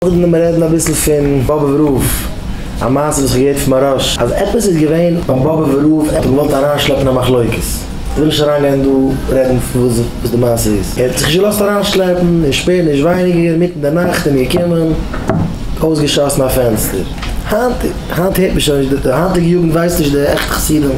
קודם לאמיר רעדן אביסל פון באבוב רב, א מעשה וואס כ'האב געהערט פון מיין ראש, אז עפעס איז געווען ביי באבוב רב, ער האט געוואלט אריינשלעפן א מחלוקת, איך וויל נישט אריינגיין דא רעדן וואס די מעשה איז, ער האט זיך נישט געלאזט אריינשלעפן, און שפעט נישט ווייניגער אינמיטן די נאכט איז מען געקומען, אויסגעשאסן א פענסטער, היינט היינט הערט מען שוין נישט, די היינטיגע יוגנט ווייסט נישט די עכטע חסידים.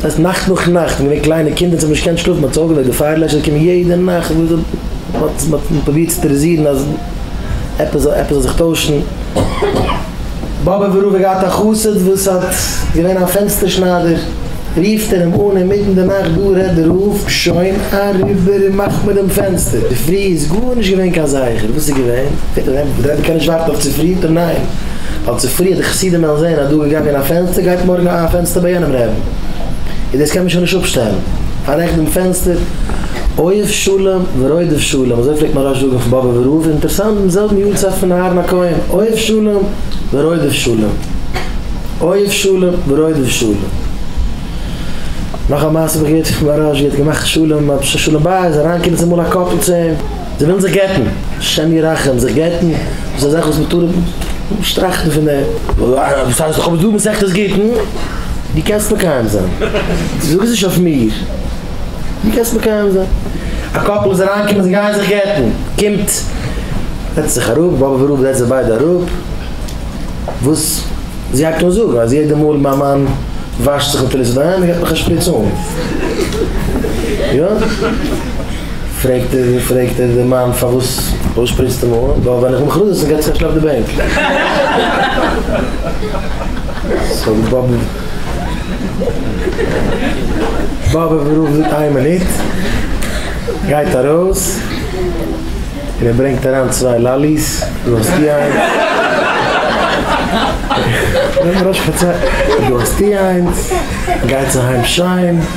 ס'הייסט נאכט נאך נאכט, מ'איז געווען קליינע קינדער צו מ'האט נישט געקענט שלאפן, מ'האט זיך אויפגעוועקט די פייער לעשער זאל קומען יעדע נאכט, מ'האט פרובירט צו טעראזירן אז עפעס זאל עפעס זאל זיך טוישן, באבע ברוך האט געהאט א חסיד וואס האט געווען א פענסטער שניידער, רופט ער אים אן אינמיטן די נאכט דא רעדט דער רב שוין אריבער און מאכט מיר דעם פענסטער, צופרי איז גארנישט געווען קיין זכר, וואס איז געווען? רבי קען נישט ווארטן אויף צופרי? ניין ווייל צופרי האט די חסידים וועלן זען אז דא איז געגאנגען א פענסטער, גייט מארגן אהן א פענסטער ביי יענעם רעבן, איז דאס קען מען שוין נישט אפשטעלן, פאררעכט דעם פענסטער, אוהב שלום ורודף שלום, אזוי פלעגט מהרש זאגן פון באבוב און ראוב, אינטערסאנט דעם זעלבן יארצייט פון אהרן הכהן, אוהב שלום ורודף שלום, אוהב שלום ורודף שלום. נאך א מעשה האב איך געהערט פון מהרש ג האט געמאכט שלום, האט שלום בית אריינגעקומען צומאל א קאפל צו אים, זיי ווילן זיך גט'ן, השם ירחם, זיך גט'ן איז א זאך וואס מ'טאר אפשטראכטן פון דעם. וואס הייסט איך האב עס דא מסכת גיטין? דו קענסט מקיים זיין, זאג עס נישט אויף מיר, דו קענסט מקיים זיין. א קאפל איז אריינגעקומען זיי גייען זיך גט'ן, קומט, זעצט זיך אראפ, באבע ורבא זעצט זיי ביידע אראפ, וואס, זי הייבט אן זאגן אז יעדע מאל מיין מאן וואשט זיך מיט פלוסידעם גיבט מיך א שפריץ אן, יא? פרעגט ער פרעגט ער די מאן פארוואס פארוואס שפריצטו מיר אן ווייל ווען איך מאך רעדעס גייט זיך א שלעפ די בענק סאו די באבע באבע רופט זאגט איין מינוט גייט ארויס און ער ברענגט אריין צוויי לאליס דא האסטו איינס דא האסטו איינס גייטס אהיים שיין.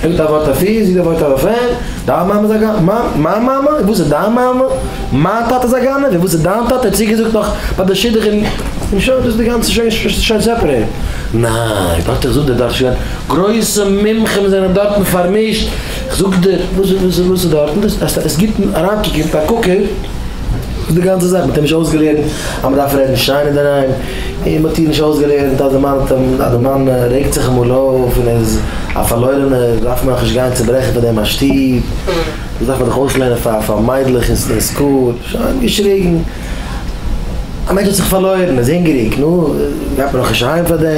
פילט א ווארט אפי' זי דער ווארט אויף אים, דיין מאמע איז א גנב, מה? מיין מאמע? און וואס איז דיין מאמע? מיין טאטע איז א גנב, און וואס איז דיין טאטע? ער האט צוגעזאגט נאך ביי די שידוך און און שוין דאס איז די גאנצע שוין שוין שוין סעפערעיט. ניין, ווארט איך זאג דיר דארט שוין גרויסע מומחים זענען דארטן פארמישט, איך זאג דיר וואס איז וואס איז דארטן, דאס עס גיבט אריין קוק און פארקוקער. איז די גאנצע זאך, מען האט אים נישט אויסגעלערנט אז מען דארף רעדן שיין אינדערהיים, און מען האט איר נישט אויסגעלערנט אז די מאן האט אים, אז די מאן רעגט זיך אמאל אויף און איז א פארלוירענער דארף מען דאך נישט גיין צוברעכן פאר דעם א שטוב, דאס דארף מען דאך אויסלערנען פאר פאר מיידלעך אין סקול, שוין געשריגן, א מענטש האט זיך פארלוירן, איז הונגעריג, נו, גייט מען דאך נישט אהיים פאר דעם.